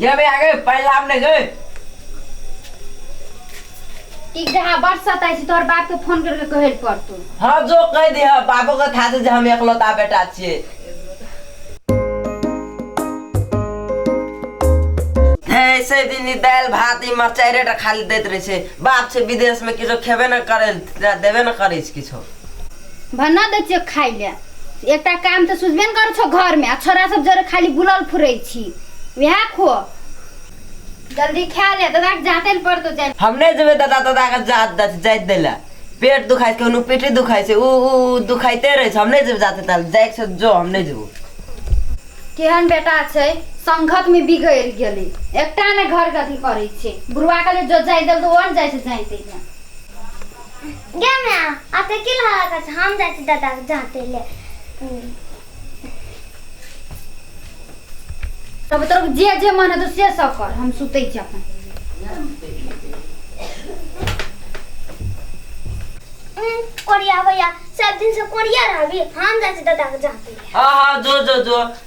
गे बे आगे पाई लाभ नहीं गए टिक जा बड़ सताई छी तोहर बाप के फोन करके कहे पर तू हाँ जो कह दे हाँ बाबू का था जे हम एकलौता बेटा छिए ऐसे दिन ई दाल भात ई मरचाई रेट खाली देत रहे छे बाप छे विदेश में किछो खेबे न करे देबे न करे छे किछो भन्ना दै छियौ खाइ लए एकटा काम तऽ सुझबे ने करै छौ घरमे आ छोरा सब जरे खाली बुलल फुरै छी वएह खो जल्दी खा ले दादा के जाते ले पड़तो जाय हम नहि जेबै दादा दादा के जात दै छै जाइत दै लए पेट दुखाइ छै कोनो पीठी दुखाइ छै ओ ओ ओ दुखाइते रहै छै हम नहि जेबै जाते ताल जाइके छै जो हम नहि जेबो केहन बेटा छै संघत में बिगड़ गेले एकटा ने घर के अथी करे छै बुढ़वा के जो जाय दल तो और जाय से जाइते गे माय आते की लहरा कर हम जाइ छी दादा के जाते ले तब तोर जे जे मन है तो से सब कर हम सुते छी अपन कोरिया भैया सब दिन से कोरिया रहबी हम जाइ छी दादा के जाते ले हाँ हाँ जो जो जो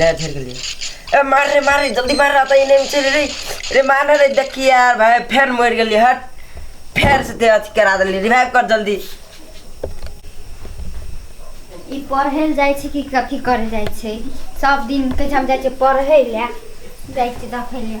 ले फिर के लिए ए मार रे मार रे जल्दी मार रहा था इन्हें चल रे रे मार रे देखी यार भाई फिर मर गई हट फिर से ते अथी करा दिली रिवाइव कर जल्दी ई पढ़े ले जाइ छै कि कथी करे जाइ छै सब दिन के हम जाइ छै पढ़े ले जाइ छै देखे ले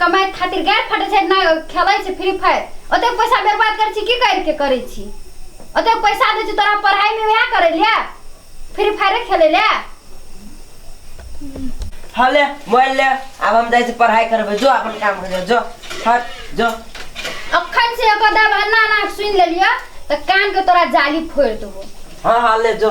कमाइत खातिर गारि फटै छै नहि खेलै छै फ्री फायर ओतेक पैसा बर्बाद करै छी की करिके करै छी ओतेक पैसा दै छी तोरा पढ़ाइमे वएह करै ले फ्री फायरे खेलै ले हाँ ले मोबाइल ले अब हम जाइ छी पढ़ाइ करबै जो अपन काम कर जो हट जो अखन से एगो दब अन्ना ना सुनि लेलियो तऽ कान के तोरा जाली फोड़ि देबो हाँ हाँ ले जो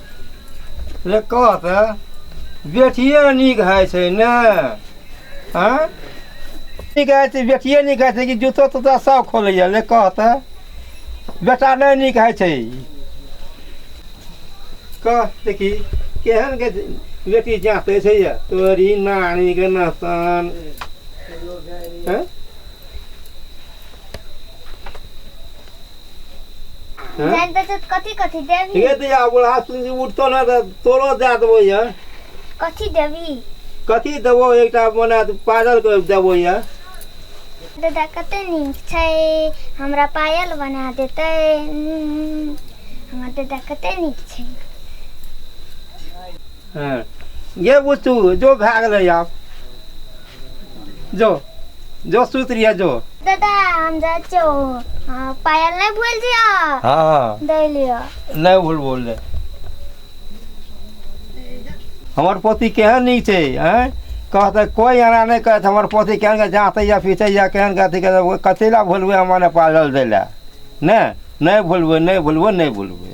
रे कह तऽ बेटिए नीक होइ छै ने आँय नीक होइ छै बेटिए नीक होइ छै कि जूतो तूता सब खोलैए रे कह तऽ बेटा नहि नीक होइ छै कह देखी केहन के बेटी जाँते छै ये तोरी नानी के नहतन आँय? हैं? जान बचत कथी कथी देवी ये तो या बोला सुन जी उठतो ना तो तोरो दे देबो ये कथी देवी कथी देबो एकटा मने पागल के देबो ये दादा कते नीक छै हमरा पायल बना देतै उम्म, हमर दादा कते नीक छै हँ ये बुतू जो भए गेलै आब जो जो सुति रहिए जो दादा हम जाइ छियौ हँ, पायल नहि भूल जिया हँ हँ दै लिअ नहि भूल बोल ले हमर पोती केहन नीक छै आँय कहतै कोइ एना नहि कहत हमर पोती केहन के जाँतै या पीटै या केहन के अथी करतै ओ कथी लए भूलबै हम मने पागल दै लए नहि नहि भूलबै नहि भूलबै नहि भूलबै